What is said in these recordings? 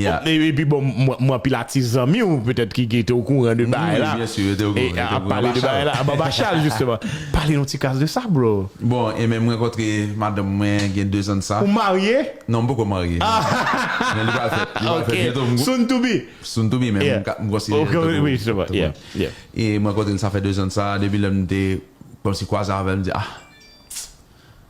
E pi bon m wè anpil atis zanmi w petèt ki te o kouran de bagay la. Wi byen sur yo te o kouran. Yo te o kouran Bachal. Anba Bachal jisteman. Pale nou ti kas de sa bro. Bon e men m rankontre madanm mwen gen 2 zan de sa. Ou marye? Non m poko marye. Men li pral fèt. Li pral fèt byento. Ok. Soon to be. Soon to be men m konsidere l tankou. Wi jisteman. Yeah. Yeah. E m rankontre l sa fè 2 zan de sa. Depi lè m te kòmsi kwaze avè l m di ah.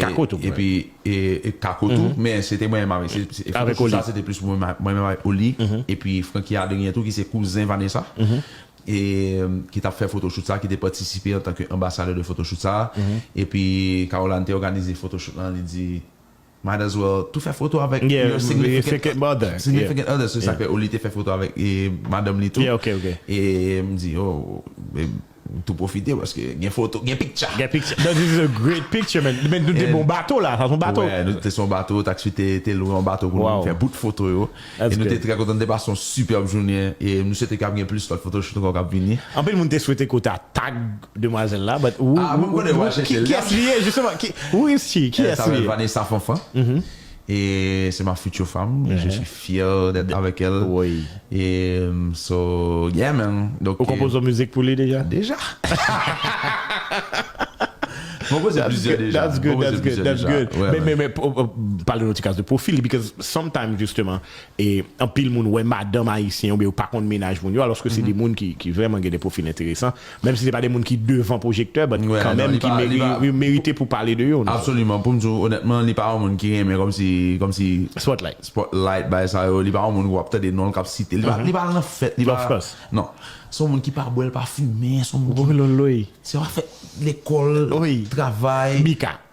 Kako tou mwen. Epi Kako tou, men se te mwen menm avèk, se foto chou sa se te plis mwen menm avèk Oli, epi Francky Adrien tou ki se kouzen Vanessa, ki t ap fè foto chou sa, ki te patisipe antanke anbasadè de foto chou sa, epi Caroline te òganize foto chou lan, li di, might as well tou fè foto avèk your significant other, significant other, se sa k fè Oli te fè foto avèk madanm li tou, e m di, oh, M tou pwofite paske gen foto, gen piktcha. Gen piktcha. That is a great picture man. Men nou te bon bato la, sa son bato. Wè, nou te son bato, taxi te lwe yon bato pou nou fè bout foto yo. E nou te trè kontan, nou te pase yon superb jounen. E m swete kap gen plis lòt photoshoot ankò kap vini. Anpil moun te swete ke w ta tag demwazèl la but who, who, who, kiyès li ye justement? Who is she? Kiyès li ye? Sa rele Vanessa Fanfan. E se ma future femme et je suis fier d'être avec elle et so yeah man. Ou konpoze yon mizik pou li deja? Deja! Mwen konpoze plizyè deja. That's good, that's good, that's good. Men pale nou ti kas de pwofil li because sometimes justement anpil moun wè madanm ayisyen oubyen yo pa konn mennaj moun yo alòske se de moun ki vrèman gen de pwofil enteresan. Menm si se pa de moun ki devan pwojektè but kanmenm ki merite pou pale de yo. Absoliman. Pou m di w onètman li pa yon moun ki renmen kòmsi kòmsi Spotlight. Spotlight bagay sa yo. Li pa yon moun ou ap tande non l k ap site. Li pa li pa al nan fèt. Li pa Of course. Non. Se yon moun ki pa bwè l pa fimen. Se yon moun ki Wololoy. Se yon afè lekòl, travay. Mika.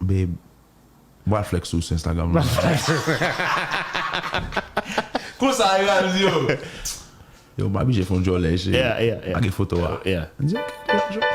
Babe Mwen pral flex ou sou Instagram la Konsa yo ap di yo Yo map bije fon djòlè cheri Pa gen foto a Li di ok nou pral jwe.